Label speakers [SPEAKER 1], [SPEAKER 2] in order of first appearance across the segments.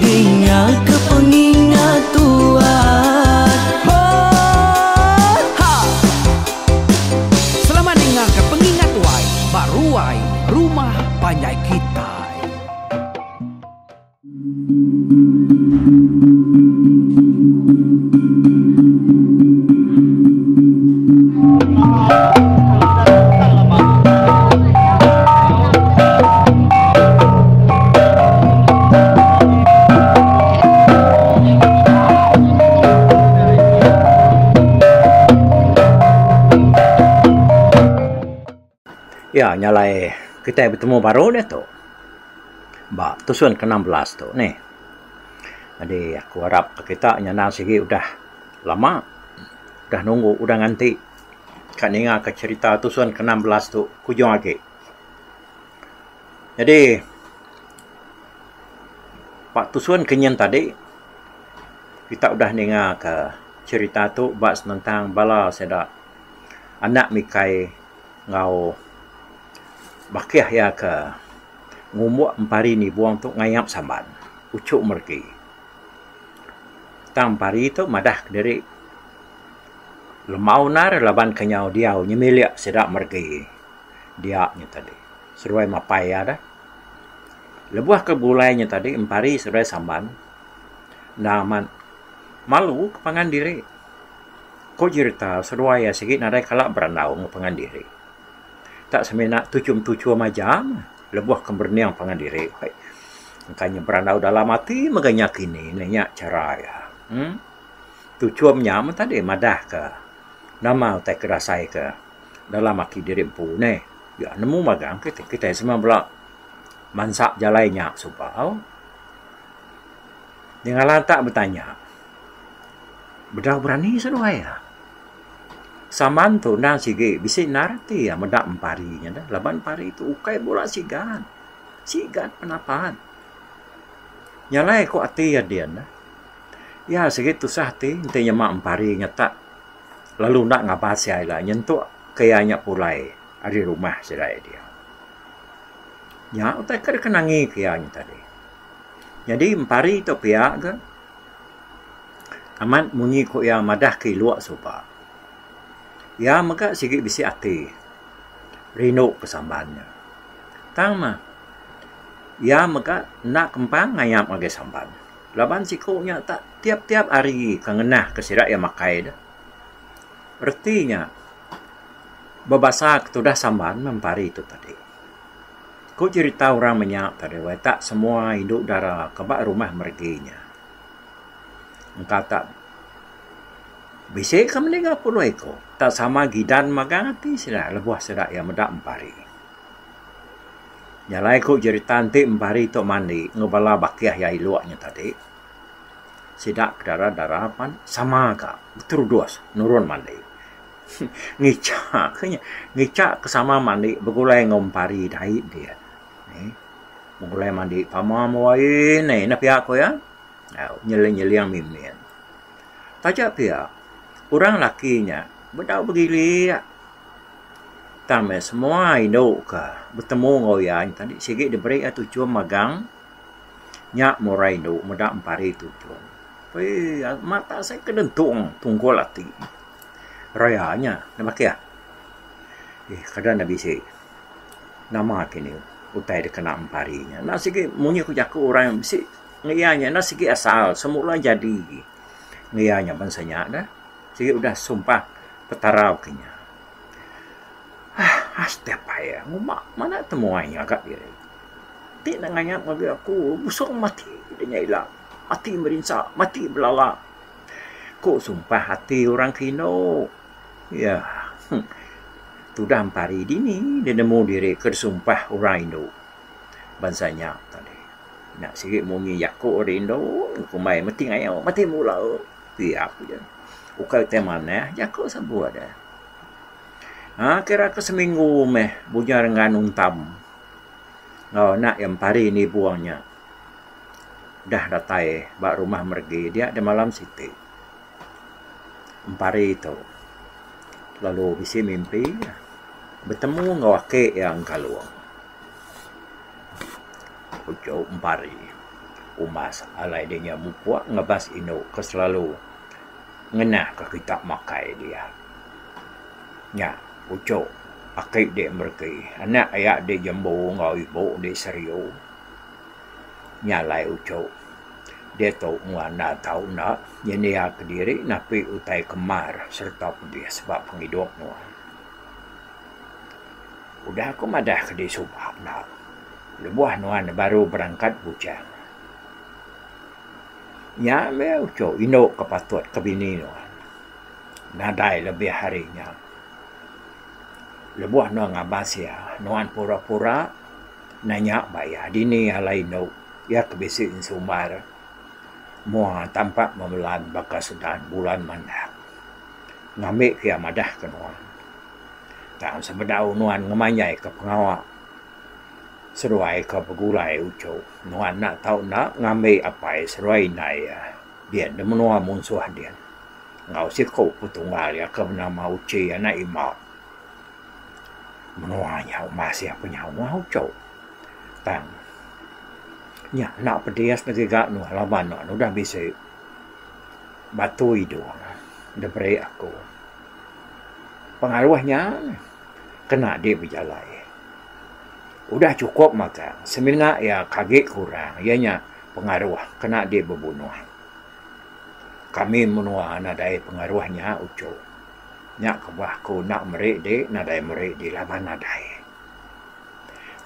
[SPEAKER 1] Dingatka pengingat tuan. Ho ha. Selamat dingatka pengingat tuai ba ruai rumah panjai kitai. Iya nya alai kitai betemu baru diatu ba tusun ke enam belas tu nih. Jadi aku arap ke kita nyandang sigi udah lama udah nunggu udah nganti ka ninga ka cherita tusun ke enam belas tu ke ujung agi. Jadi ba pusun ke nyin tadi kita udah ninga ka cherita tu ba senentang bala sida anak mikai enggau bakih iya ke ngumbuk empari nibung tu ngayap samban uchu meregi. Tang empari tu madah kediri lembau nar laban kenyau diau nyemilik sida meregi. dia nya tadi seruai mapai iya deh. Lebuh ke bulai nya tadi empari seruai samban enda amat malu ke pangan diri. Ko jerita seruai iya sigi nadai kala berandau enggau pangan diri. Tak semina tuchum-tuchum aja meh lebuh ke berening pangan diri. Engka inya berandau dalam ati mega inya kini ne. Nya chara iya uhh. Tuchum nya meh tadi madah ke nama utai ke dasai ke. dalam ati diri empu neh ya nemu magang kitai semua bela mansa jalai nya suba nyengala tak betanya bedau berani seduai iya. Saman tu endang sigi bisi endar ati iya meda empari nya deh laban empari tu ukai bula sigan. Sigan penapat. Nyalai ku ati iya din. Iya sigi tusah ati enti nyema empari nya tak. lalu enda ngaban sia ila nyentuk ke iya nya pulai ari rumah sida iya diau. Nya utai ke deka nangi ke iya nya tadi. Nyadi empari tu pia ke amat munyi ku iya madah ke ilok suba. Iya mega sigi bisi ati rindu ke Sambal nya. Tang mah iya mega enda kempang ngayap ngagai Sambal. Laban siku nya tak tiap-tiap hari ke ngenah ke sida iya makai deh. Reti nya bebasa ke tudah samban meh empa hari tu tadi. Ku cerita orang meh nya tadi weh tak semua indu dara ke ba rumah meregi nya engka tak bisi ke meli enggau puluh iku. Tak sama gidan magang ati sida lebuh sida iya meda empa hari. Jalai ku jerita enti mempari tu mandi enggau bala bakih iya ilok nya tadi sida ke dara dara pan sama ka beterudus nurun mandi ngicha ka nya ngicha ka sama mandi begulai enggau mempari dai dia begulai mandi pama mawai aii nai ina pia ku iya au nyeling nyeling mimin taja pia orang laki nya bedau begilik. Tang meh semua indu ke betemu enggau iya nyat enti sigi diberi iya tuchum magang nya murai indu meda empari tuchum. Wee amat asai ke dentung tunggul ati raya nya nambah ke iya. Eii kada ne bisi nama kini utai dep kena empari nya. Enda sigi munyi ku jaku orang bisi ngeya nya enda sigi asal semula jadi ngeya nya bansa nya deh. Sigi udah sumpah Petara baka nya. Hah, step payah ngumba mana temuai ngaga diri. Enti enda ngayap ngagai aku, busung mati deh nya ila. Mati merinsa, mati belala. Ku sumpah ati orang ke indu. Yah, huh. Tudah empari dini deh nemu diri ke disumpah orang indu bansa nya tadi. Nya sigi munyi jaku ari indu, kumbai mati ngayau, mati mula. ti aku ja. Ukai utai manah jaku sebut eh. Ha kira ke seminggu meh Bunyar enggau Anun Tam enggau anak iya Empari enda ibuh nya udah datai ba rumah meregi dia da malam siti. Empari tu lalu bisi mimpi betemu enggau aki iya Engkalung. Uchu empari umas alai dinya mupuk ngebas indu ke selalu ngenah ke kita makai dia. Nya uchu aki di mereti anak iya di jembu enggau ibu di seriu nya alai uchu diatu mung enda tau enda nyendia kediri napi utai kemar sereta pedis ba pengidup nuan. Udah aku madah ke di suba enda lebuh nuan baru berangkat bujang. Nya meh uchu indu ke patut ke bini nuan nadai lebih hari nya. Lebuh nuan ngabas iya, nuan pura-pura nanya ba iya dini alai indu iya ke bisi sumbar mua tampa memelan baka sedan bulan mandap. Ngambi ke iya madah ke nuan. tang sebedau nuan ngemanjaika pengawa seruai ke begulai uchu nuan enda tau enda ngambi apai seruai indai iya dia di menua munsuh dia enggau siku petunggal iya ke benama Uchi anak Ima. Menua nya masih pe nyau mah uchu tang nya enda pedis legi ga nuan laban nuan udah bisi batu idup diberi aku. Pengaruh nya kena agi bejalai. Udah chukup magang semina iya ke agi kurang iya nya pengaruh kena agi bebunuh. Kami menua nadai pengaruh nya uchu. Nya ke bah aku enda meri di nadai meri di laban nadai.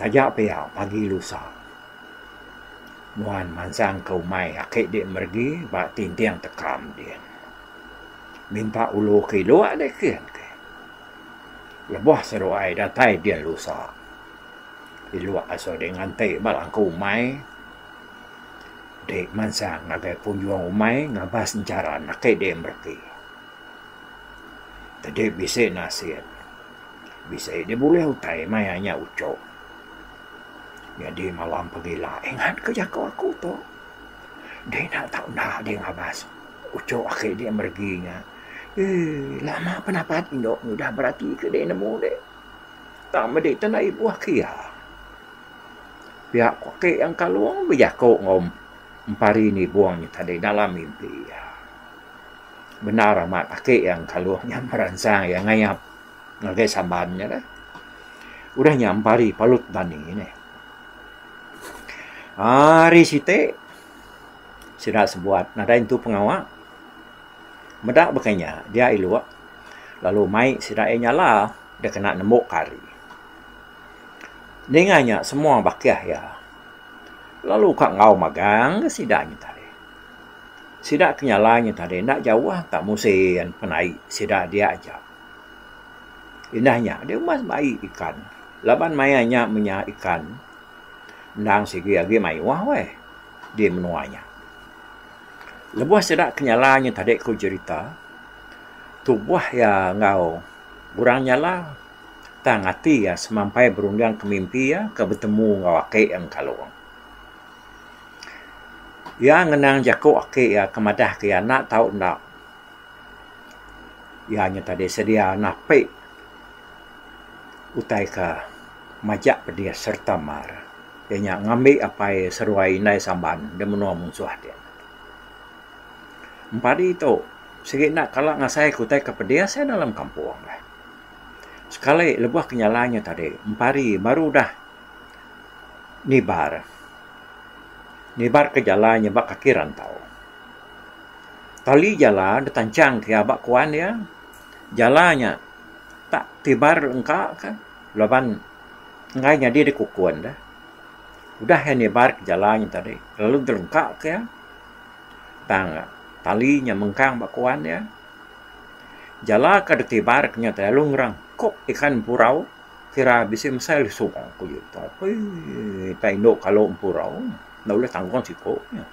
[SPEAKER 1] Taja pia pagi lusa nuan mansang ke umai aki di meregi ba tinting tekam din. Minta ulu ke ilu alai ke enti lebuh seduai datai dil usa ilu asu dek nganti ba langkau umai dek mansang ngagai pengunjung umai ngabas encharan ake dek mereti tadi bisi naseng bisi dek bulih utai maya nya uchok nyadi malam pengila ingat ke jaku aku tu dek enda tau enda dek ngabas. Uchu aki dia meregi nya. Eii lama pun apat indu ngudah berati ke deh nemu deh. Tang medi tu enda ibuh aki iya. Pia ku aki Yang Kalong bejaku enggau empari nibong nya tadi dalam mimpi iya. Bendar amat aki Yang Kalong nya meransang iya ngayap ngagai Samban nya deh. Udah nya empari Palut Bani deh. Ari siti. Sida sebuat nadai nentu pengawa. Meda baka inya, dia ilok lalu mai sida iya nyala deh kena nemu kari. Ninga inya semua bakih iya lalu ka enggau magang deh sida nya tadi. Sida ke nyala nya tadi enda jauh ka musin penai sida dia aja. Indah nya deh umbas bai ikan laban maya nya menya ikan endang sigi agi mayuh weh. di menua nya. Lebuh sida kenyala nya tadi ku jerita tubuh iya enggau orang nyala tang ati iya semampai berunding ke mimpi iya ke betemu enggau aki iya ngekalung. Iya ngenang jaku aki iya ke madah ke iya enda tau enda iya nya tadi sedia napi. utai ka majak pedis sereta mar iya nya ngambi apai seruai indai Saban da menua munsuh ti. Padi tu sigi enda kala ngasai ku utai ka pedis iya dalam kampung deh. Sekali lebuh ke nyala nya tadi padi baru udah nibar. Nibar ke jala nya ba kaki rantau. Tali jala ditanchang ke aba kuan iya. Jala nya tak tibar engka ka laban enggai nyadi da kukun deh. Udah iya nibar ka jala nya tadi lalu deh lengka ka iya tang tali nya mengkang ba kuan iya. Jala ka deh tibar ka nya tadi lalu ngerengkup ikan empurau kira bisi mesai lesu. Ui tau pi tai indu kalu empurau enda ulih tanggung siku nya.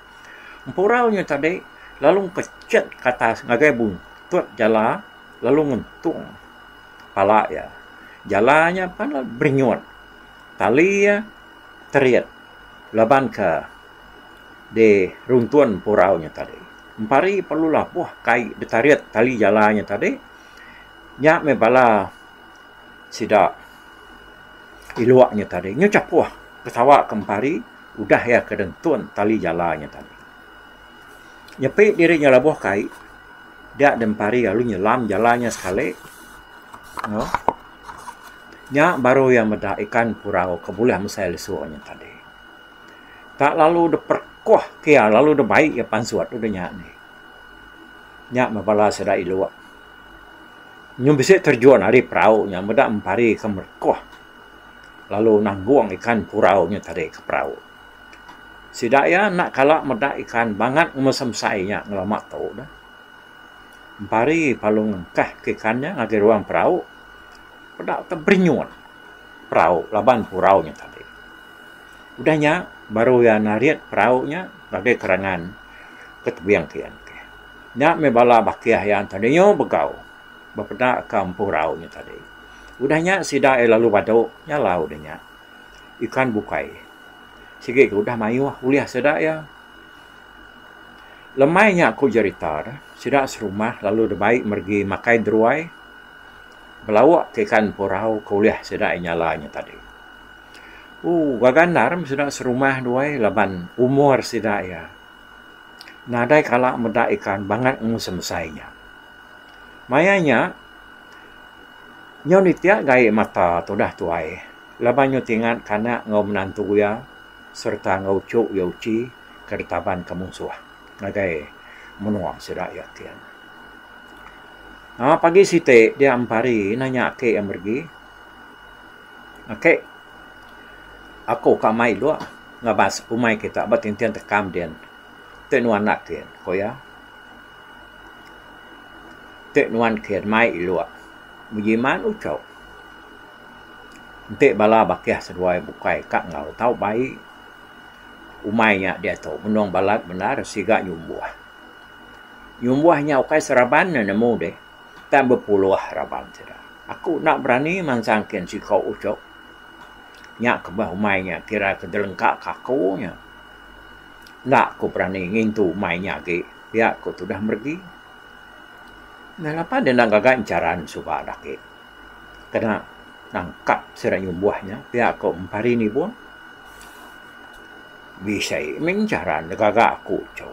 [SPEAKER 1] Empurau nya tadi lalu ngepechet ke atas ngagai buntut jala lalu ngentung pala iya. Jala nya pan lalu berinyut. Tali iya terit laban ke diruntun empurau nya tadi. Empari perlu labuh kai ditarit tali jala nya tadi. Nya meh bala sida ilok nya tadi. Nya chapuh ketawa ke empari. Udah iya ke dentun tali jala nya tadi. Nyepi diri nya labuh ke ai, dia den pari lalu nyelam jala nya sekali. Aaa. Nya baru iya meda ikan purau ke bulih mesai lesu nya tadi. Tak lalu dep perekuh ke iya lalu dep bai iya pansut udah nya dih. Nya meh bala sida ilu nyun bisi terjun ari perahu nya meda empari ke merekuh. lalu nanggung ikan purau nya tadi ka perau. Sida iya enda kala meda ikan bangat ngemesai-mesai nya ngelama tu neh. Empari lalu ngengkah ka ikan nya ngagai ruang perau, peda tu berinyut perau laban purau nya tadi. Udah nya baru iya narit perau nya ngagai kerangan ke tebing kian. Nya meh bala bakih iya nya tadi nyau begau. bepeda ka empu rau nya tadi. Udah nya sida iya lalu badu nyalau deh nya ikan bukai sigi ke udah mayuh ulih sida iya. Lemai nya ku jerita deh sida serumah lalu deh bai meregi makai deruai belawa ka ikan empu rau ke ulih sida iya nyala nya tadi. Ooh gaga endar meh sida serumah deh wai laban umur sida iya nadai kala meda ikan bangat enggau semesai nya. Maya nya, nyau ditia gaie mata tudah tuai laban nyau tingat kanak enggau menantu iya sereta enggau uchu iya uchi ke ditaban ke munsuh ngagai menua sida iya ti. Aaa pagi siti dia empari nanya aki iya meregi, Aki, aku ka mai ilok ngabas umai kita ba tintin tekam din. Ti nuan enda kin? ku iya. Enti nuan ke mai ilok bejimat ucok enti bala bakih seduai bukai ka enggau tau bai umai nya diatu menung balat bendar siga nyumbuh. Nyumbuh nya ukai seraban ne nemu deh tang bepuluh raban sida. Aku enda berani mansang kin siko ucok nya kebah umai nya kira ke delengka ka aku nya. Enda ku berani ngintu mai nya agi pia ku tudah meregi. Nang apai deh enda gaga encharan suba deh agi kena nangkap sida nyumbuh nya pia ku Empari Nibong. Bisi mih encharan deh gaga aku tu.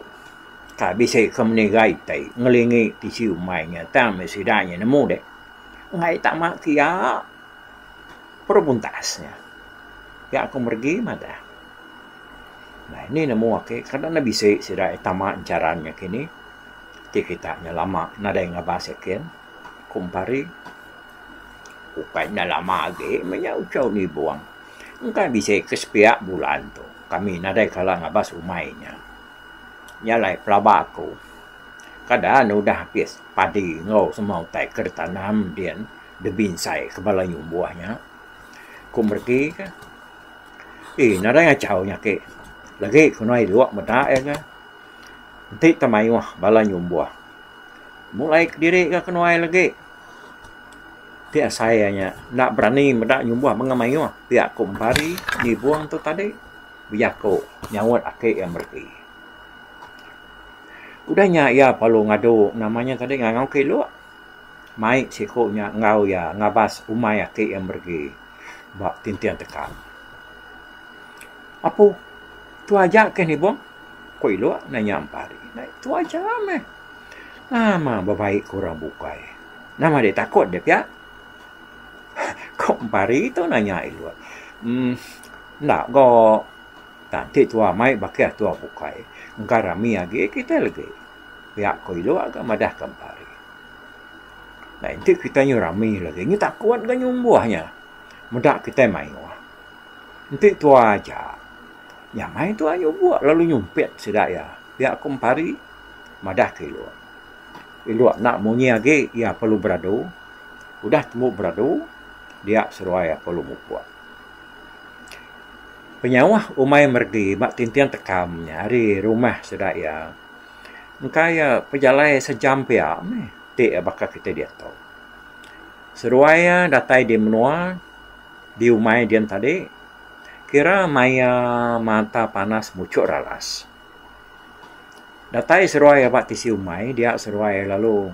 [SPEAKER 1] Kai bisi ke menigai ti ngelingi tisi umai nya tang meh sida nya nemu deh enggai tama kiya. Baru buntas nya, ga aku meregi madah. Nai ni nemu ake kada enda bisi sida e tama encharan nya kini. Ti kita nya lama nadai ngabas yakin, ku Empari. Ukai enda lama agi meh nya uchau Nibong. Engka bisi ke sepiak bulan tu kami nadai kala ngabas umai nya. Nya alai pelaba aku. Kada ne udah habis padi enggau semua utai ke ditanam din. Debi ensai ke bala inya umbuh nya. Ku Mereti ke. Ih, nadai ngachau nya ake. Lagi ku nuai dua meda iya ke. Enti tau mayuh bala inya umbuh. Mulai kediri ga ke nuai lagi. Ti asai iya nya enda berani meda inya umbuh mega mayuh. Pia ku Empari, Nibong tu tadi bejaku nyaut ake iya Mereti. Udah nya iya lalu ngadu nama nya tadi ngangau ke ilok. Mai siku nya enggau iya ngabas umai aki iya meregi ba tinting tekap. Apu, tu aja kah nibung? ku ilu nanya empa ri. Tu aja meh. Nama bebaik ku orang bukai. Nama deh takut deh pia? ku empa ri tu nanya ilu. Uhh, enda ga. Tang ti tuah mai baka tuah bukai. Engka rami agi kita legi. Piak ko ilu ga madah ka empari. Nya enti kitai nyu rami lagi nyu takut ga nyu umbuh nya. Meda kitai mayuh. Enti tua aja nyamai tua nyu buk lalu nyumpit sida iya. Piak ko empari madah ka ilu. Ilu enda munyi agi iya perlu beradu. Udah tembu beradu dia seruai iya perlu mupuk. Penyauh umai meregi ba tinting tekam nya ari rumah sida iya. Engka iya pejalai sejam pia meh ti baka kitai diak tu. Seduai iya datai di menua di umai dian tadi kira maya mata panas muchok ralas. Datai seduai iya ba tisi umai dia seduai iya lalu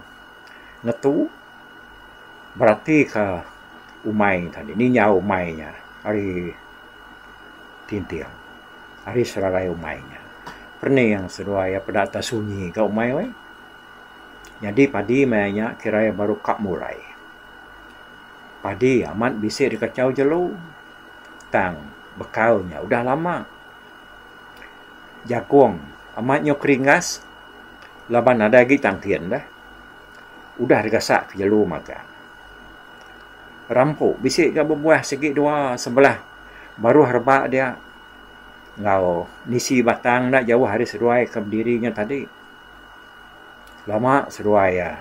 [SPEAKER 1] ngetu beratika umai tadi, ninjau umai nya ari Tinting. Ari serarai umai nya. Pening seduai iya peda atas sunyi ka umai weh. Nyadi padi maya nya kira iya baru ka mulai. Padi amat bisi dikachau jelu. Tang bekau nya udah lama. Jagung amat nyau keringas laban nadai agi tangkin deh. Udah digasak ke jelu magang. Rampu bisi ga bebuah sigi dua sebelah baruh rebak dia enggau nisi batang enda jauh ari seduai ke bediri nya tadi. Lama seduai iya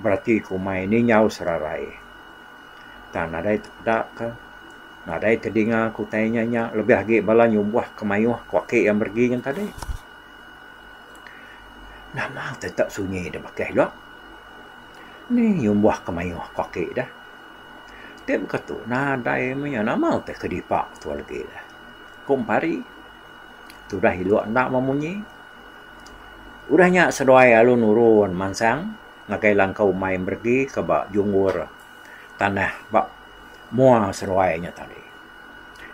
[SPEAKER 1] berati ke umai ninyau serarai. Tang nadai tepeda ke nadai tedinga ke utai inya nya lebih agi bala nyumbuh ke mayuh ke ake iya meregi nya tadi. Nama tetap sunyi da bakih dok? Ni nyumbah ke mayuh ku aki deh. Ti baka tu nadai meh iya nama ti ke dipa tu legi deh. Ku empari tudah ilok enda meh munyi. Udah nya seduai lalu nurun mansang ngagai langkau mai meregi ke ba junggur tanah ba mua seduai nya tadi.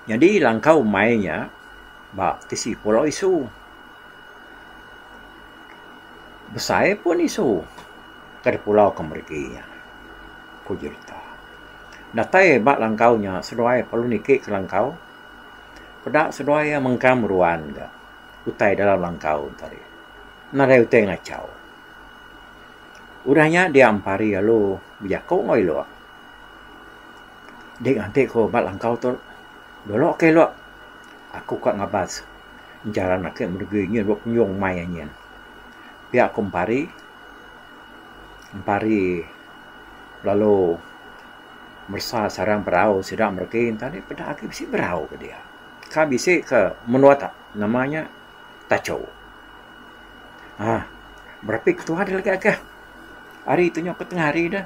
[SPEAKER 1] Nyadi langkau mai nya. Ba tisi pulau isu. Besai pun isu ke dipulau ke mereti nya, ku Jurita. Datai ba langkau nya seduai perlu niki ke langkau peda seduai iya mengkang meruan ga utai dalam langkau ento ri. Nadai utai ngachau. Udah nya dia empari lalu bejaku enggau ilok. Dik nganti ku ba langkau tu dulu ka ilu aku ka ngabas jaran ake meri diri nyin dulu penyung mai nyin pia aku empari empari lalu meresa sarang berau sida meri ke enta ni peda agi bisi berau ke dia ka bisi ke menua ta nama nya tacho um berapi ketua dia lagi ake hari tu nya ke tengah hari dah.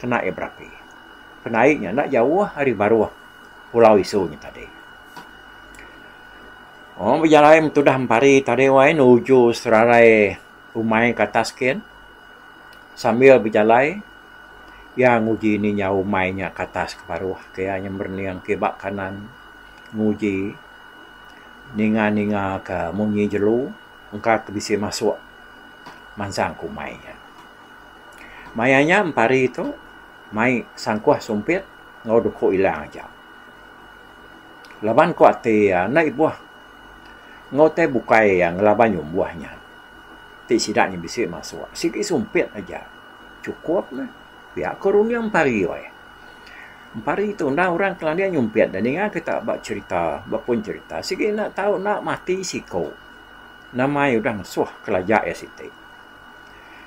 [SPEAKER 1] kena iya berapi. Penai nya enda jauh ari baruh pulau isu nya tadi. Wang bejalai metudah empari tadi wai nuju serarai umai ke atas kin sambil bejalai iya nguji ninya umai nya ke atas ke baruh ke iya nya merening ke ba kanan nguji ninga ninga ke munyi jelu engka ke bisi masuk mansang ke umai nya. Maya nya empari tu mai sangkuh sumpit enggau duku ila aja. Laban ku ati iya enda ibuh enggau utai bukai iya ngelaban nyumbuh nya ti sida nya bisi masuk. Sigi sumpit aja chukup meh pia ko runding empari weh. Empari tu enda orang ke landing nyumpit deh ninga kita ba cherita ba pun cherita sigi enda tau enda mati siko. Nama iya udah ngesuh kelaja iya siti.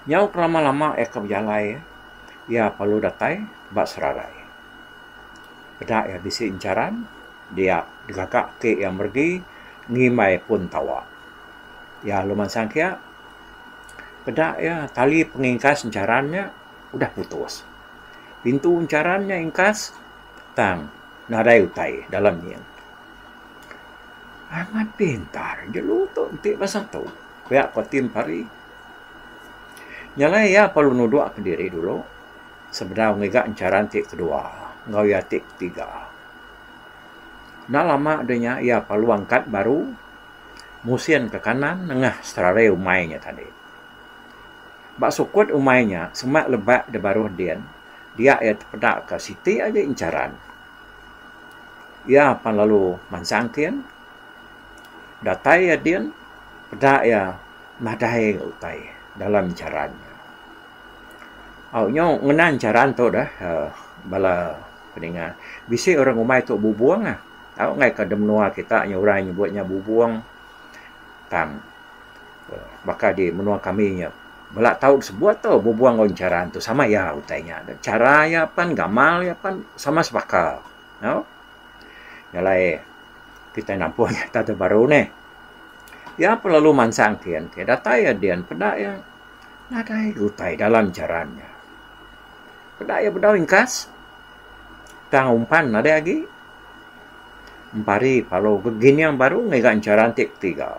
[SPEAKER 1] Nyau kelama lama iya ka bejalai iya perlu datai ba serarai. Peda iya bisi encharan dia digaga ati iya meregi ngimbai pun tawa. Iya lalu mansang kiya peda iya tali pengingkas encharan nya udah putus. Pintu encharan nya ingkas tang nadai utai dalam nyin. Amat pintar jelu tu enti basa tu. Pia ko Tim Pari. Nya alai iya perlu nuduk ka diri dulu sebedau ngiga encharan ti kedua enggau iya ti ketiga. Enda lama deh nya iya perlu angkat baru musin ka kanan nengah strare umai nya tadi. Ba sukut umai nya semak lebak deh baruh din dia iya tepeda ka siti aja encharan. Iya pan lalu mansang kin. Datai iya din, peda iya madai enggau utai dalam jaran nya. Au nyu ngenang jaran tu deh bala ninga. Bisi orang rumai tu bubong ah. Au ngai ka menua kita nya orang nyebut nya bubong. Tang baka di menua kami nya bala tau sebut tu bubong enggau jaran tu sama iya utai nya. Chara iya pen gamal iya pen sama sebaka. Au. Nya alai kitai nampung iya ntah da baru nih. Iya pun lalu mansang kin ke datai iya din peda iya nadai utai dalam jaran iya. Peda iya bedau ingkas tang umpan nadai agi empari palu ke gining baru ngiga jaran ti ketiga.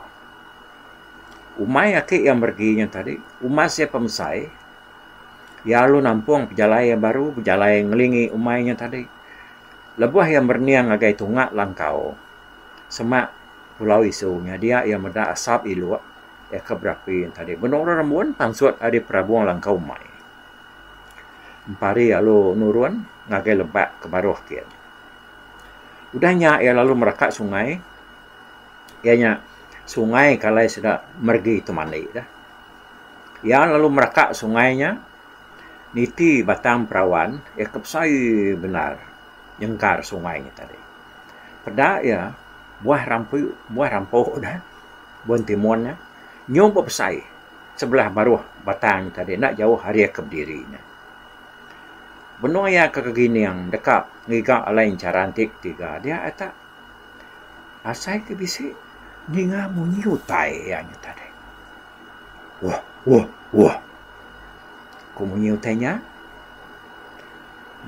[SPEAKER 1] Umai aki iya meregi nya tadi umas iya pemesai iya lalu nampung pejalai iya baru bejalai ngelingi umai nya tadi. Lebuh iya merening ngagai tunga langkau semak pulau isu nyadia iya meda asap iluk iya ke berapi tadi benung ra rembun pansut ari perabung langkau mai empari lalu nurun ngagai leba ke baruh kiye. Udah nya iya lalu meraka sungai iya nya sungai ke alai sida meregi temali da. Iya lalu meraka sungai nya. Niti batang perawan iya ke besai bendar nyengkar sungai nya tadi. Peda iya buah rampi buah rampu nya buan timun nya nyau ba besai sebelah baruh batang nya tadi enda jauh ari iya ke bediri nya. Benung iya ke kegining deka ngiga alai encharan ti ketiga dia iya ta asai ke bisi ninga munyi utai iya nya tadi. Wah! Wah! Wah! Ku munyi utai nya,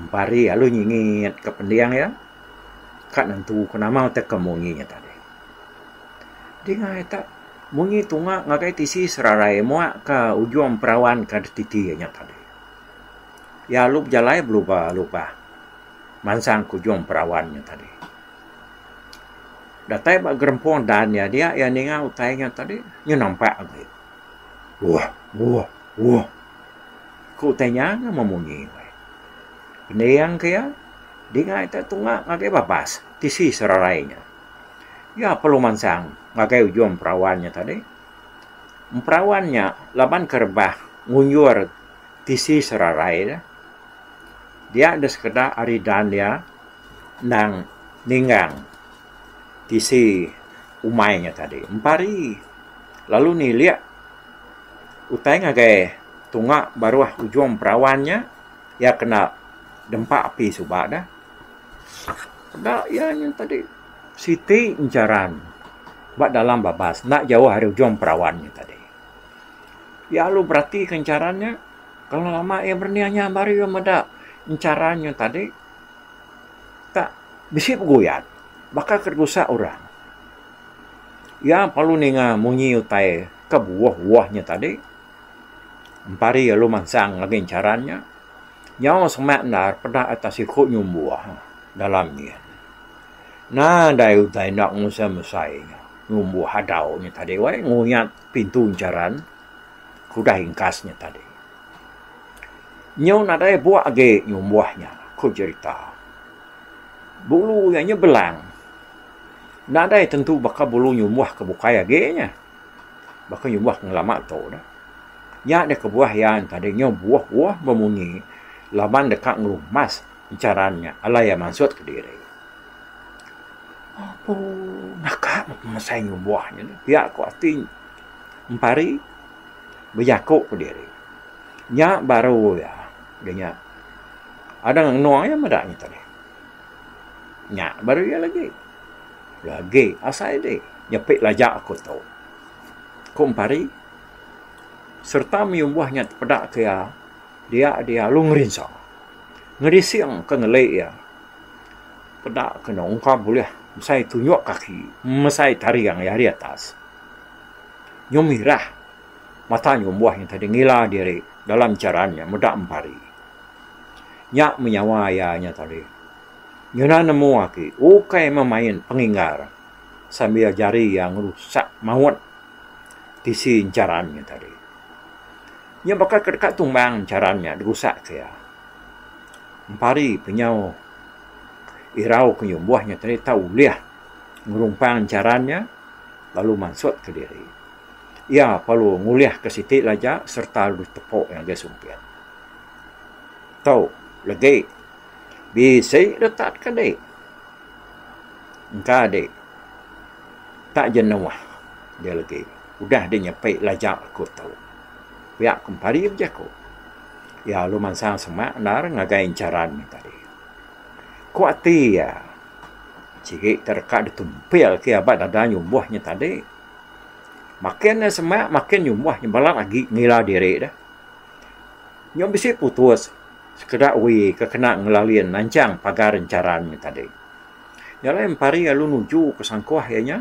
[SPEAKER 1] Empari lalu nyingitka pending iya. Ka nentu ke nama utai ke munyi nya tadi. Dingai tak munyi tunga ngagai tisi serarai muakka ujung perawan ke dek titi iya nya tadi. Iya lalu bejalai belubah-lubah mansang ke ujung perawan nya tadi. Datai ba gerempung dan iya dia, iya ninga utai nya tadi, nyu nampak agi. Wah, wah, wah. Ku utai nya nyu memunyi. Pening ke iya, dinga ita tunga ngagai babas tisi serarai nya. Iya perlu mansang ngagai ujung perawan nya tadi. Emperawan nya laban ke rebah ngunjur tisi serarai dia. Dia enda sekeda ari dan dia. endang ninggang tisi umai nya tadi empa hari lalu nilik utai ngagai tunga baruh ujung perawan nya iya kena dempa api suba dah enda iya nya tadi siti encharan ba dalam babas enda jauh ari ujung perawan nya tadi iya lalu beratika encharan nya kalau lama iya beraninya baru iya meda encharan nya tadi. Tang bisi peguyat baka ke ditusa orang. Iya perlu ninga munyi utai ke buah-buah nya tadi. Empari lalu mansang lagi chara nya. Nyau semak endar peda atas siku nyumbu dalam nyin. Nadai utai enda ngusai-ngusai nya nyumbu hadau nya tadi weh nguyat pintu encharan ke udah ingkas nya tadi. Nyau nadai buak agi nyumbuh nya, ku jerita. Bulu iya nya belang. Nadai tentu baka bulu nyumbuh ke bukai agi nya. Baka nyumbuh ngelama tu ne. Nya deh kebuah iya tadi nyau buoh-buoh bemunyi laban deka ngerumas encharan nya alai iya mansut kediri. Apu naka mesai nyumbuh nya. Pia ku ati Empari. bejaku ke diri nya baru iya de nya ada ngenung iya meda nya tadi nya baru iya lagi lagi asai di nyepi laja ku tu ku empari sereta meyumbah nya tepeda ke iya dia dialu ngerinsa ngedising ke ngeli iya peda ke ungkap bulih mesai tunjuk kaki mesai taring iya di atas. Nyum irah. Mata nyum buah nyata deh ngila diri dalam jaran nya meda empari. Nya menyawa iya nyata deh. Nyuna nemu agi ukai meh main penginggar sambil jari iya ngerusak maut tisi jaran nya tadi. Nya baka ke deka tumbang jaran nya dirusak ke iya. Empari pe nyau irau ke nyum buah nya tadi tau ulih ngerumpang jaran nya. lalu mansut ke diri. Iya perlu ngulih ke siti laja sereta lu tepu ngagai sumpit. Tu legi bisi retak ke di. Engka di tak jenuh dia legi udah di nyepi laja ku tu. Pia ku pari bejaku. Iya lu mansang semak endar ngagai encharan tadi. Ku ati iya. Sigi ke deka ditumpil ke aba dada nyumbuh nya tadi. Makin ne semak makin nyumbuh nya balat agi ngila diri deh. Nya bisi putus sekeda uwi ke kena ngelalin nanchang pagar encharan nya tadi. Nya alai empari lalu nuju ke sangkuh iya nya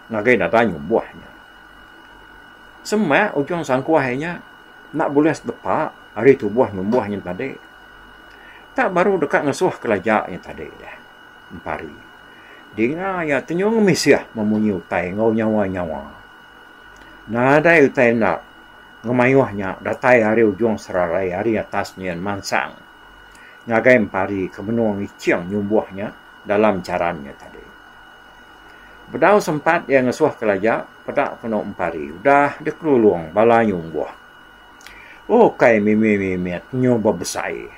[SPEAKER 1] ngagai dada nyumbuh nya. Semak ujung sangkuh iya nya. Enda bulih sedepa ari tubuh numbuh nyin tadi. Tak baru deka ngesuh kelaja nyin tadi deh. Empari. Dinga iya tenyuh ngemisih memunyi utai enggau nyawa-nyawa. Nadai utai enda ngemayuh nya datai ari ujung seralai ari atas nyin mansang ngagai Empari ke menung iching nyumbuh nya dalam charan nya tadi. Bedau sempat iya ngesuh kelaja, Peda penu empari udah dikelulung bala anyu umbuh. Ukai mimi mimit anyu bebesai,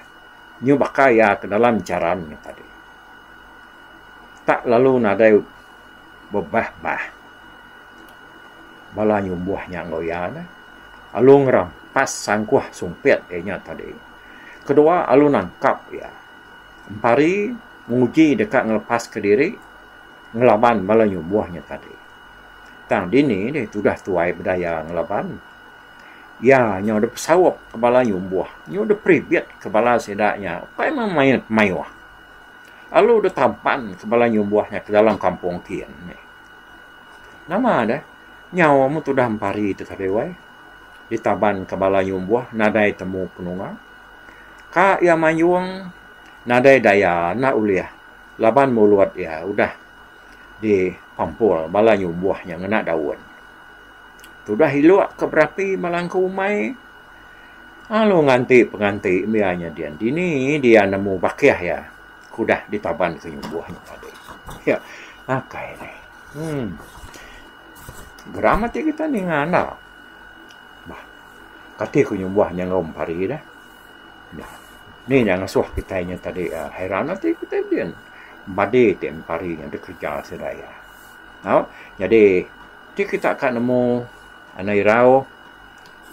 [SPEAKER 1] anyu baka iya ke dalam charan nya tadi. Tak lalu nadai bebah bah bala anyu umbuh nya enggau iya neh. Alu ngerampas sangkuh sumpit iya nya tadi. Kedua alu nangkap iya. Empari nguji deka ngelepaska diri ngelaban bala anyu umbuh nya tadi. Tang dini deh tudah tuai bedaya ngelaban. Iya nyau dep saup ke bala nyumbuh, nyu dep ribit ke bala sida nya ukai meh mayuh mayuh. Lalu deh tampan ke bala nyumbuh nya ke dalam kampung kin nih. Nama deh nyau amu tudah empari te ke deh wai. Ditaban ke bala nyumbuh nadai temu penunga. Ka iya mayung nadai daya enda ulih laban mulut iya udah. di pampul bala nyumbuh nya ngena daun tudah ilok ke berapi bala engku umai lalu nganti penganti mia nya dian dini dia nemu bakih iya ke udah ditaban ke nyumbuh nya tadi yak akai ni um geram ati kita ninga enda bah kati ke nyumbuh nya enggau mempari dah. Nih nya ngasuh kitai nya tadi hairan ati kitai pidin bade ti enda pari nya deh kerja sida iya. Tau jadi ti kita ka nemu anak irau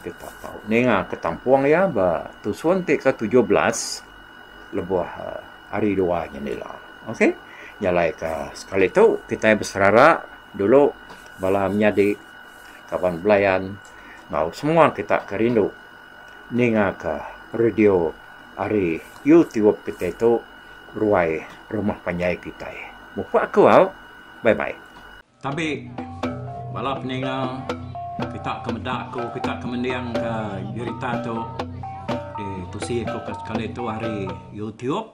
[SPEAKER 1] kita tau ninga ka tampung iya ba tusun ti ke tujuh belas lebuh hari dua nya ila. Ok jalai ka sekali tu kitai beserara dulu bala menyadi kaban belayan enggau semua kita ke rindu. ningaka radio ari youtube kitai tu ruai rumah panjai kitai. Mupok aku au. Bye bye. Tabi bala peninga kita ke meda aku kita ke mendingka berita tu ditusi aku ka sekali tu ari youtube.